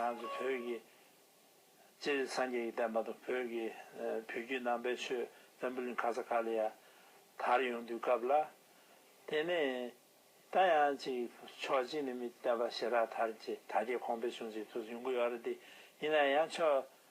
ང་ཚོ་བོད་ཀྱི་སྤྱིར་སངས་རྒྱས་ཀྱི་བསྟན་པ་དང་བོད་ཀྱི་བོད་བརྒྱུད་ནང་པའི་ཆོས་བོན་པོ་ལིང་ག་ས་ག་ལ་ཡ་དར་ཡོང་དུས་སྐབས་ལ། དེ་ནས་ད་ཡང་ཅིག་ཕྱོགས་གཅིག་ནས་མི་བསྟན་པ་ཞེ་དྲག་དར་རྗེས་ད་རྒྱལ་ཁོངས་འཕེལ་བྱུང་ཅིག་ཐུགས་ཡོང་གི་ཡོད་རེད་དེ་ཡིན་ན་ཡང་ཆོས་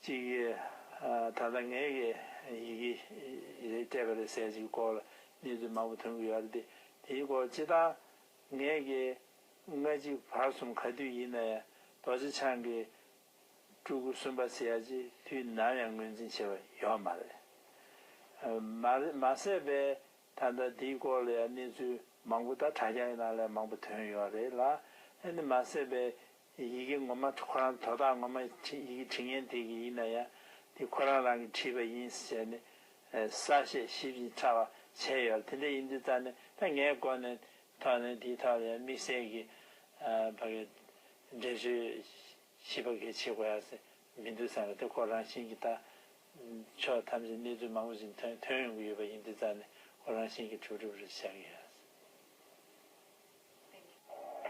གཅིག་གིས། ད་ལྟ་ངས་ཡི་གེ་རེ་སྤྲད་པ་རེད་ཟེར་ཅིག་སྐོར་ལ་གནས་ཚུལ་མང་པོ་ཐོན་གྱི་ཡོད་རེད་དེ། དེའི་སྐོར་སྤྱི་བཏང། ངས་ཀྱི། ལྔ་གཅིག་བར་གསུམ་ག་དུས་ཡིན་ན་ཡང་རྡོ་རྗེ་འཆང་གི། སྤྲུལ་སྐུ་གསུམ་པ་ཟེར་ཡ་ཅིག་དུས་ནམ་ཡང་ངོས་འཛིན་བྱས་པ་ཡོད་མ་རེད། མ་ཟད་པས་ད་ལྟ་དེའི་སྐོར་ལ་ཡང་གནས་ཚུལ་མང་པོ་ད་དྲ་རྒྱ་ཡི་ནང་ལས་མང་པོ་ཐོན་ཡོད་རེད་ལ། ཨ་ནི་མ་ཟད་པས་ཡི་གེ་ངོ་མ་ཁོ་རང་དོ་བདག་ངོ་མ་ཡི་གེ་དྲི་ངན་དེ་གི་ཡིན་ན་ཡང་དེ་ཁོ་རང་རང་གི་བྲིས་པ་ཡིན་ཟེར་ནས་གསལ་བཤད་ཞིབ་ཅིང་ཕྲ་བ་བྱས་ཡོད་དེ་འདྲ་ཡིན་དུས་རྩ་ནས་ད་ངའི་སྒོ་ནས་ཐོག་ནས་དེའི་ཐོག་ལ་ཡང་དམིགས་བསལ་གི་བ་གི་འགྲེལ་བརྗོད་ཞིབ་པ་གི་བྱེད་དགོས་ཡ་ས་མི་འདུག་བསམ་པ་དེ་ཁོ་རང་བཞིན་གི་ད་ཕྱོགས་ཐམས་ཅད་གནས་ཚུལ་མང་པོ་ཞིག་ཐོན་ཐོན་ཡོང་གི་ཡོད་པ་ཡིན་དུས་རྩ་ནས་ཁོ་རང་བཞིན་གི་གྲུབ་གྲུབ་རེ་བྱ་གི་ཡ་ས།